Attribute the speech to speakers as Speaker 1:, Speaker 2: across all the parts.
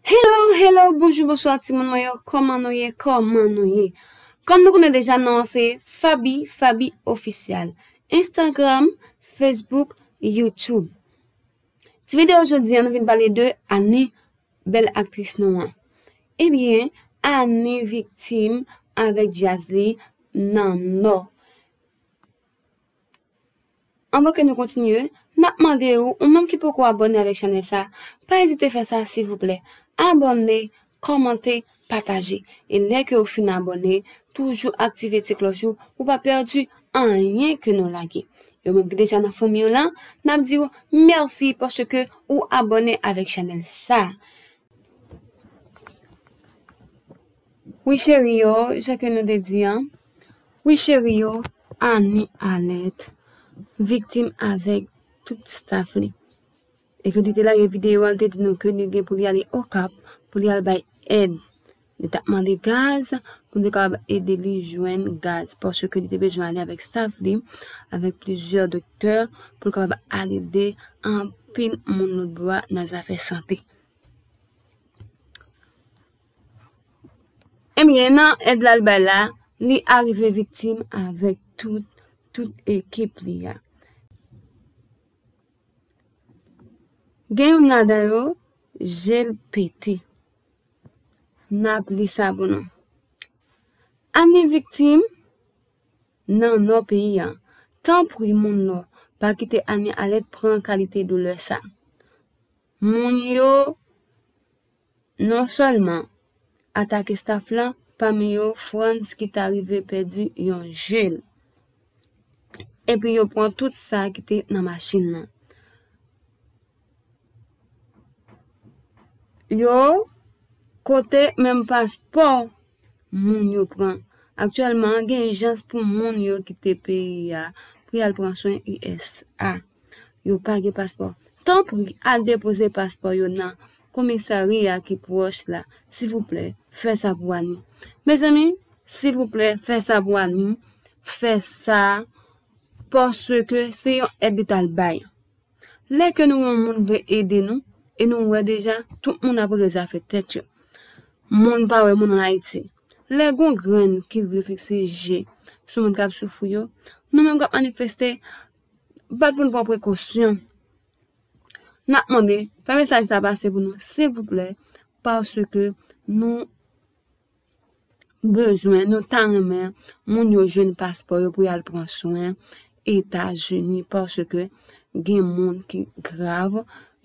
Speaker 1: Hello hello bonjou bonswa ti moun mwen yo kòman nou ye kòman nou ye kòm nou konnen deja non an se fabi fabi ofisyal instagram facebook youtube ti video jodi an nou vin pale de ani bèl aktris nou an ebyen ani viktim avèk dyaz li nan nò Anvan ke nou kontinye, nap mande ou, ou menm ki poko abòne avèk chanèl sa, pa ezite fè sa silvouplè, abòne, kòmante, pataje, e lè ke ou fin abòne, toujou aktive ti klòch ou, pou pa pèdi anyen ke nou lage. Yo menm ki deja nan fanmi an lan, nap diw mèsi paske ou abòne avèk chanèl sa. Wi cheri yo, jan ke nou te di an. Wi cheri yo, Annie Alert viktim avèk tout staf li. E ke li te lage videyo a, li te di nou ke li gen pou li ale Okap pou li al bay èd. Li tap mande gaz pou nou te kapab ede li jwenn gaz paske li te bezwen ale avèk staf li, avèk plizyè doktè pou l kapab al ede anpil moun lotbò a nan zafè sante. Ebyen nan èd lal bay la, li arive viktim avèk tout tout ekip li a. Gen youn ladan yo, jel pete. Nap li sa pou nou. Anni viktim nan nò peyi a. Tanpri moun nò, pa kite Annie Alerte pran kalite doulè sa. Moun yo Non sèlman, atak estaf la, pami yo Frantz ki ta rive pèdi yon je l. Epi yo pran tout sa ki te nan machin nan. Yo kote menm paspò moun yo pran. Aktyèlman an gen ijans pou moun yo kite peyi a pou y al pran swen usa. Yo pa gen paspò. Tanpri al depoze paspò yo nan komisarya ki pwòch la. Silvouplè, fè sa pou Annie. Mezanmi, silvouplè, fè sa pou Annie. Fè sa paske se yon èd li t al bay. Lè ke nou wè yon moun vle ede nou, e nou wè deja tout moun ap regle zafè tèt yo. Moun pa wè moun an Ayiti. Lè gon grenn ki vle fikse je sou moun kap soufri yo, nou menm kap manifeste, bat pou nou pran prekosyon. Nap mande, fè mesaj sa pase pou nou silvouplè, paske nou. bezwen nou ta renmen moun yo jwenn paspò yo pou yal pran swen etazini paske gen moun ki grav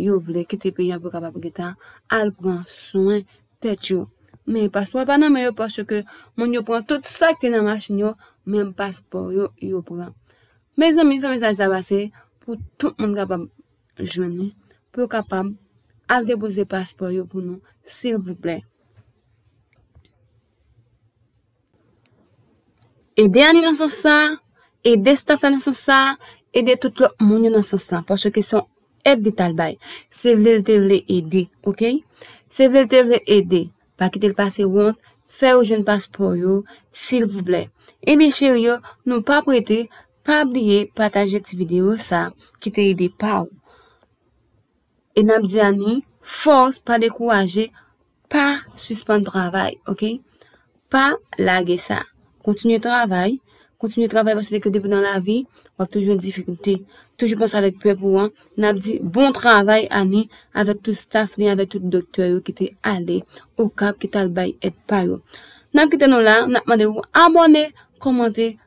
Speaker 1: yo vle kite peyi an pou kapab gentan al pran swen tèt yo men paspò pa nan men yo paske moun yo pran tout sak te nan machin yo menm paspò yo yo pran mezanmi fèm mesaj sa pase pou tout moun kapab jwenn nou pou yo kapab al depoze paspò yo pou nou silvouplè. Ede Ani nan sans sa, ede staf la nan sans sa, ede tout lòt moun yo nan sans la paske son èd li tal bay. Se vle l te vle ede, ok? Se vle l te vle ede, pa kite l pase wont, fè yo jwenn paspò yo silvouplè. Ebyen cheri yo, nou pa prete, Pa bliye pataje ti video sa ki te ede pa ou. E nap di ani fòs pa dekouraje pa sispann travay ok pa lage sa kontinye travay kontinye travay paske ke depi nan lavi wap toujou nan difikilte toujou panse avèk pèp ou an nap di bon travay ani avèk tout staff li avèk tout doktè yo ki te ale okap ki tal bay èd pa yo nap kite nou la nap mande ou abòne kòmante.